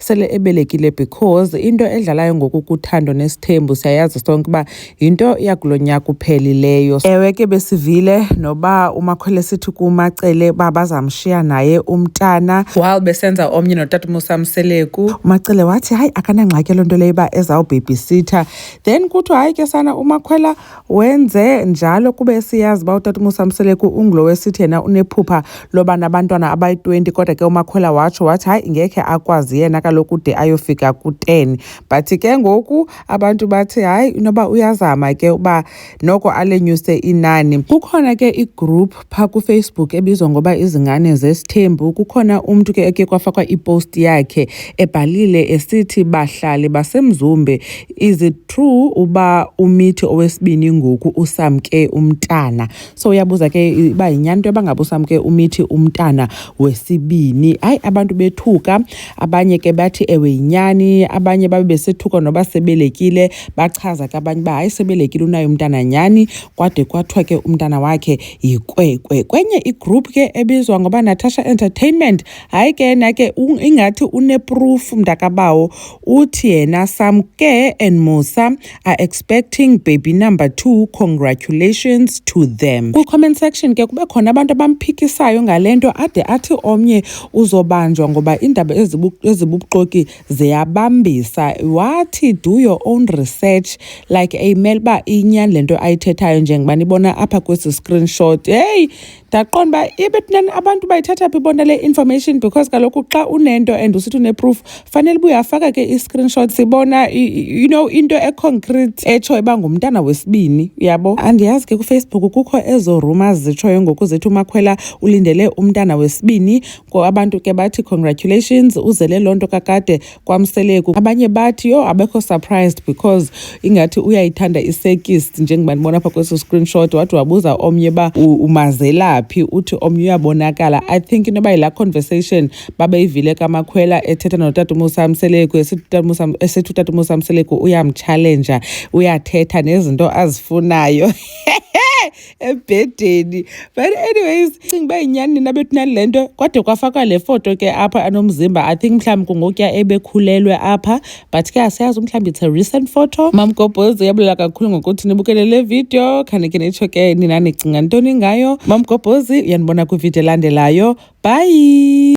sele ebelekile because into edlalayo ngoku kuthando nesithembu siyayazi sonke uba yinto yakulo nyaka uphelileyo ewe ke besivile noba umakhwele sithi kumacele uba bazamshiya naye umntana while besenza omnye notata umusa mseleku umacele wathi hayi akanangxaki loo nto leyo uba ezawubhebhisitha then kuthiwa hayi ke sana umakhwela Wenze njalo kuba esiyazi uba utata uMusamseleku ungulo wesithi yena unephupha loba nabantwana abayi-20 kodwa ke uMakhwela watsho wathi hayi ngekhe akwazi yena kaloku de ayofika ku-10 but ke ngoku abantu bathi hayi inoba uyazama ke uba noko alenyuse inani kukhona ke igroup phaa kufacebook ebizwa ngoba izingane zesithembu kukhona umntu ke eke kwafakwa ipost yakhe ebhalile esithi bahlali basemzumbe is it true uba umithi owesibini ngoku usamke umntana so uyabuza ke uba yinyani into yoba ngabe usamke umithi umntana wesibini hayi abantu bethuka abanye ke bathi ewe yinyani abanye babe besethuka noba sebelekile bachaza ke abanye uba hayi sebelekile unayo umntana nyani kwade kwathiwa ke umntana wakhe yikwekwe kwenye igroup ke ebizwa ngoba natasha entertainment hayi ke yena ke ingathi uneproof mntakabawo uthi yena samke and musa are expecting baby number two congratulations to them kwi-comment section ke kube khona abantu abamphikisayo ngale nto ade athi omnye uzobanjwa ngoba iindaba ezibubuxoki ziyabambisa wathi do your own research like ayimele uba inyani le nto ayithethayo njengoba nibona apha kwesi screenshot heyi ndaqonda uba ibetnani abantu bayithatha phi bona le information because kaloku xa unento and usithi uneproof fanele uba uyafaka ke i-screenshot sibona you know into econcrete etsho iba ngumntana wesibini uyabo andiyazi ke kufacebook kukho ezo rumors zitshoyo ngoku zithi umakhwela ulindele umntana wesibini abantu ke bathi congratulations uzele loo nto kakade kwamseleku abanye bathi yho abekho surprised because ingathi uyayithanda isekist njengoba ndibona apha kweso screenshot wathi wabuza omnye uba umazelaphi uthi omnye uyabonakala i think inoba yilaa conversation babeyivile kamakhwela ethetha notata umusa mseleku esithi utata umusa mseleku uyamtshalenja uyathetha nezinto azifunayo ebhedeni but anyways cinga uba yinyani nina bethu nale nto kwade kwafakwa le foto ke apha anomzimba i think mhlawumbi kungokuya ebekhulelwe apha but ke asiyazi umhlawumbi it's a recent photo mam gobhoz uyabulela kakhulu ngokuthi nibukele le video khane ke nitsho ke nina nicinga ntoni ngayo mam gobhozi uyanibona kwividiyo elandelayo bye